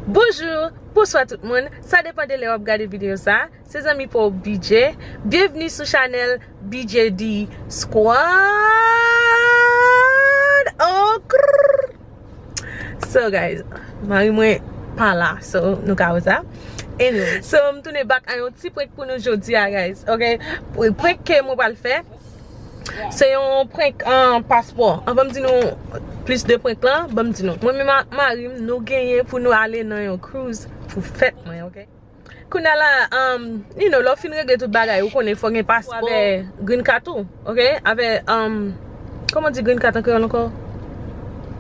Bonjour, bonswa tout moun, sa depan de lè wap gade video sa, se zanmi pa w BJ, byenvni sou chanèl BJD squad oh krrrr So guys, mari mwen pa la so nou ka wè sa So m tounen back a yon ti prank pou nou jodi a guys ok, prank ke mwen pral fè. Se yon prank paspò. Anvan m di nou plis de prank lan, banm di nou. Mwen menm ak mari m, nou genyen pou nou ale nan yon cruise pou fèt mwen, ok? Kounya la, you know, lè w fin regle tout bagay, ou konnen fò gen paspò avè green card ou, ok? Avè, kòman di green card an kreyòl ankò?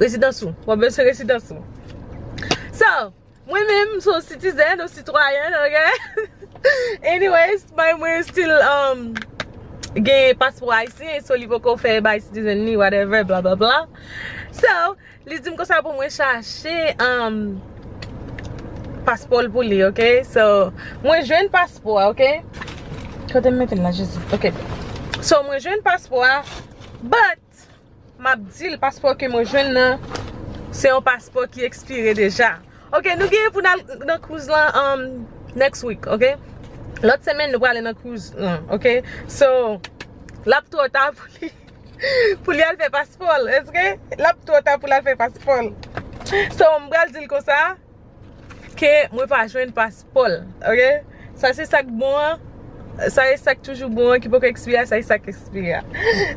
Rezidans ou. Wap bezwen rezidans ou. So. Mwen menm m son citizen ou citoyenne ok anyways may mwen still gen paspo ayisyen so li poko fè bay citizen li whatever bla bla bla so li dim konsa pou mwen chache paspo l pou li ok so mwen jwenn paspo a ok kote m mete l la jezi ok so mwen jwenn paspo a but Map dil paspò ke mwen jwenn nan se yon paspò ki ekspire deja ok nou genyen pou nal nan cruise lan an next week ok lòt semenn nou prale nan cruise lan ok so lap trò ta pou li pou li al fè paspòl ok lap trò ta pou lal fè paspòl so m pral dil konsa. Ke mwen pa jwenn paspòl ok sa se sak bon an sa e sak toujou bon an ki poko ekspire a sa e sak ekspire a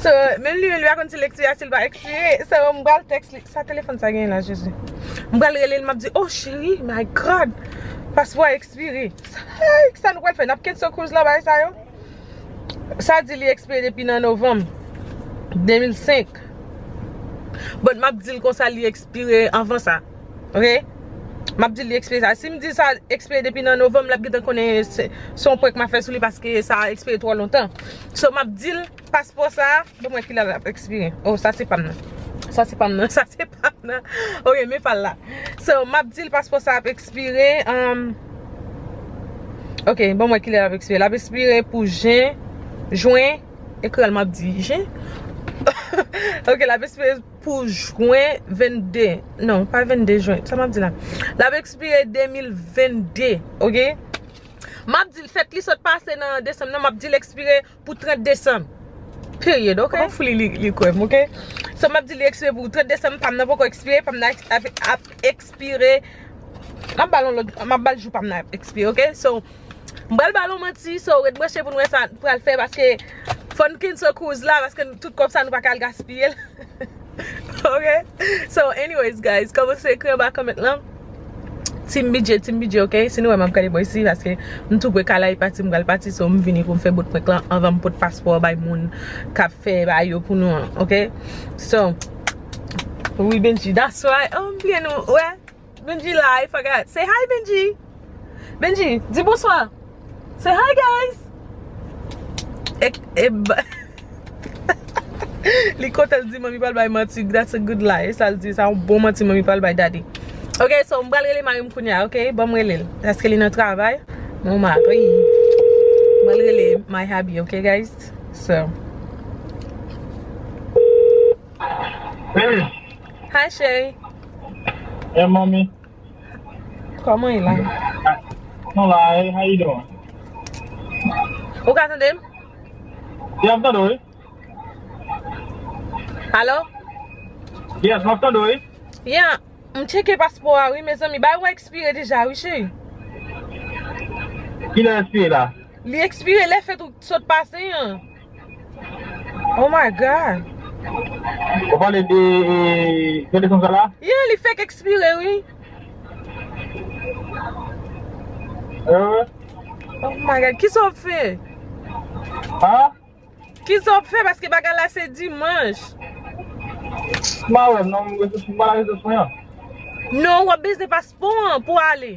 so menm li menm li pa konn sil ekspire a sil pa ekspire so m pral tèks li sa telefòn sa genyen la jezi m pral rele l map di oh cheri my God paspò a ekspire heyy kisa nou pral fè nap kenso kouz la bagay sa yo sa di li ekspire depi nan novanm 2005 bon map di l konsa li ekspire. Expire anvan sa ok Map dil li expire sa Sim dil sa expire depi nan Novembre lap gentan konnen se se yon prank map fè sou li paske sa expire twò lontan So map dil paspò sa Banm wè kilè lap expire Oh sa se pam nan Sa se pam nan Sa se pam nan Ok men pal la So map dil paspò sa ap expire umm Ok banm wè kilè lap expire Lap expire pou jen Juin Ekri al map di jen Ok lap expire pou jwen 22 non pa 22 jwen sa map di la lap ekspire 2022 ok map dil fèt li sot pase nan desanm nan map dil ekspire pou 30 desanm period ok on foli li kwèm ok so map dil li ekspire pou 30 desanm pam nan poko ekspire pam nan ap ekspire map bal yon lòt map bal jou pam nan ap ekspire ok so. M pral ba l yon manti so ret branche pou n wè sa n pral fè paske fò n kenso kouz la paske tout kòb sa nou pa ka al gaspiye l ok so anyways guys kòmanse ekri anba comment lan Team bidjee team bidjee ok si nou wè m ap gade bò isi paske m tou pre kalay pati m pral pati so m vini pou m fè bout prank lan anvan m pot paspò an bay moun k ap fè bay yo pou nou an ok so wi bndjee that's why oh m bliye nou wè. Bendjy la I forgot Say hi Bendjy Bendjy di bonswa Say hi guys Li kontan li di manmi pral bay manti That's a good lie Sa l di sa yon bon manti manmi pral bay daddy Ok so m pral rele mari m kounya ok Banm rele l Paske li nan travay Mwen yon mari M pral rele my hubby ok guys So Hey. Hi cheri. Hey mommy. Koman e la? Nou la e, how you doing? Ou ka tande m? Yeah, m tande w wi. Alo? Yes, map tande w wi. Yeah, m tcheke paspo a wi mezanmi. Bay ou a ekspire deja wi cheri. Kilè l ekspire la? Li ekspire lè fèt ou sot pase an. Oh my God! Wap pale de Fedde san sal la? Yeah li fèk ekspire wi. Oh my God! Kisa wap fè? Huh? Kisa wap fè paske bagay la se dimanche? Mpa wè non, mpa nan rezo swen an. Non wap bezwen paspò an pou ale.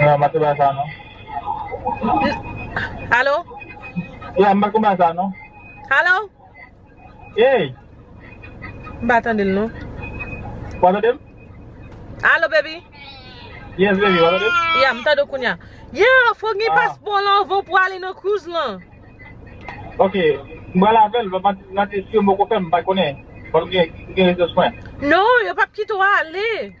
Nan m pa konprann sa non. Alo? Yeah m pa konprann sa non. Alo? Hey! M pa tande l non. Ou pa tande m? Alo baby? Yes baby, ou pa tande m? Yeah m tande w kounya. Yeah fòk gen paspò w lan anvan w pou ale nan cruise lan. Ok, m pral avè l, m ap teste yo m poko fè m pa konnen. Fòk m gen resous mwen. Non, yo pap kite w ale.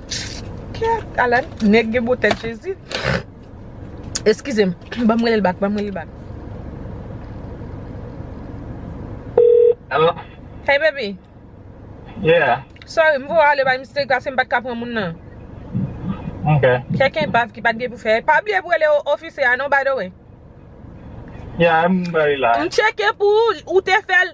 Kèt ala nèg gen bon tèt jezi Eskize m banm relel bak banm relel bak Alo Hey baby Yeah Sorry m voye ale by mistake paske m pat ka pran moun nan Ok Kèk enpav ki pat gen pou fè Pa bliye pou rele ofisè a non by the way Yeah m bay la M tcheke pou ou ou te fèl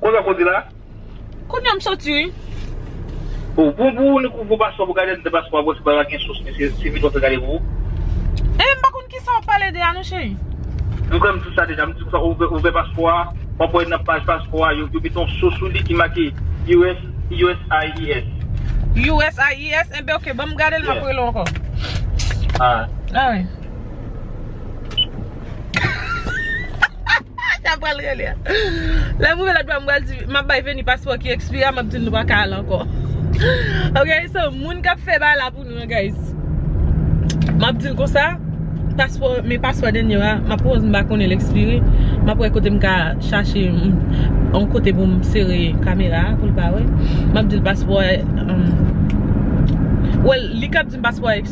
Koz ak koze la? Kounya m soti wi. Bon pou pou ou pou paspo pou gade de paspo a bon se pa gen sous mesye se vin wap fè gade pou ou. Eeh m pa konn kisa wap pale de a non cheri. M kwè m di sa deja m di konsa ou vè paspo a wap wè nan paj paspo a yo mete yon sous sou li ki make US uscis. Uscis enben ok banm gade l map rele w ankò. Alright. Alright. Sa pral rele a Lè m rive lòt bò m pral di M ap bay Venie paspò ki ekspire a M ap di l nou pa ka al ankò Ok so moun k ap fè bagay la pou nou an guys M ap di l konsa Paspò Men paspò Denie a M ap pwòz m pa konnen l ekspire M ap wè kote m ka chache Yon kote pou m sere kamera a pou l pa wè M ap di l paspò a Well li k ap di m paspò a ekspire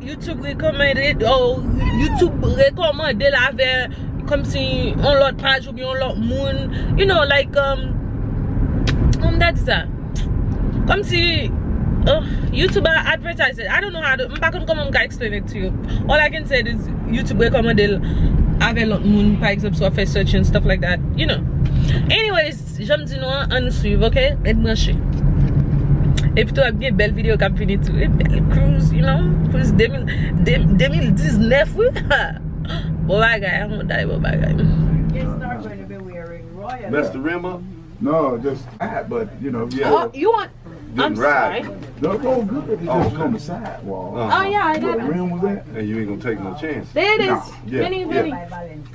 YouTube recommended or YouTube rekòmande l avè kòmsi yon lòt paj oubyen yon lòt moun You know like Kòman m ta di sa Kòmsi Oh YouTube a advertise it I don't know how to M pa konn kòman m ka explain it to you All I can say it is YouTube rekòmande l avè lòt moun pa egzanp si w ap fè search and stuff like that You know Anyways Janm di nou an ann swiv ok ret branche epitou ap gen bèl video kap vini tou wi bèl cruise you know cruise 2019 wi bon bagay an mouda bon bagay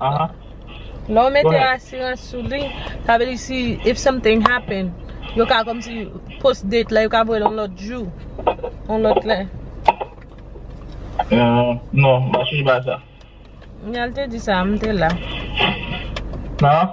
Aha. Lè w mete asirans sou li, sa vle di si if something happen, yo ka kòmsi post date la, yo ka voye l yon lòt jou, yon lòt lè. Non, m pa sonje bagay sa. Yal te di sa, m te la. Nan?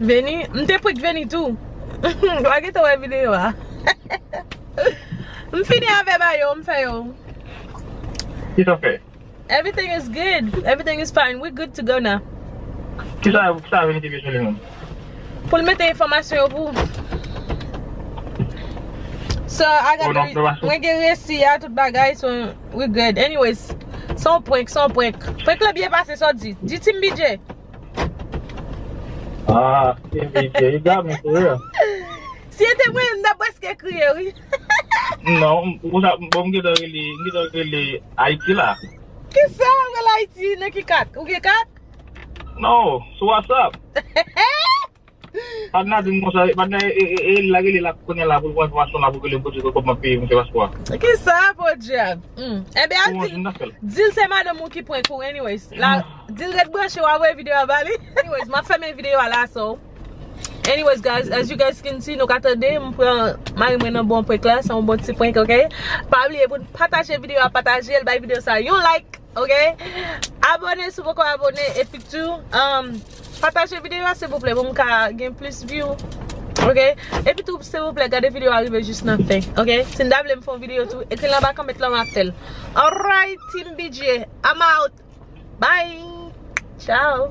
Veni, m te prank Veni tou. Wa gentan wè video a. M fini avè mayo, m fè yo. Kisa fè? Everything is good, everything is fine, we good to go now. Kisa Veni te bezwen li menm? Pou l mete enfòmasyon yo pou ou. So, I got the re, mwen gen resi a, tout bagay, so we good. Anyways, s on prank, s on prank. Prank la byen pase, sa w di? Di Team BJ. Ah, e vide, e dam ou tou ya. Si e te mwen, m ta preske kriye wi. Non, ou sa, bon m gentan rele, m gentan rele Ayiti la. Kisa wap rele Ayiti, nan ki kat? Ou gen kat? Non, sou WhatsApp. Padna dim konsa, padna e e la rele la kounye la poul pran enfomasyon la poul rele poodje kòm map peye misye paspò a. Kisa podyab humm enben al dil dil se madanm ou ki prank ou anyways la dil ret branche wap voye video a bali anyways map fèmen video a la so anyways guys as you guys can see nou ka tande m pran mari mwen nan bon prank la se yon bon ti prank ok pa bliye poun pataje video a patajel bay video sa yon like. Ok abone si w poko abone epi tou pataje videyo a silvouplè pou m ka gen plis view ok epi tou silvouplè gade videyo a rive jis nan fen ok si n ta vle m fè yon videyo tou ekri l anba kòmant la m ap fè l alright team bgy I'm out bye ciao.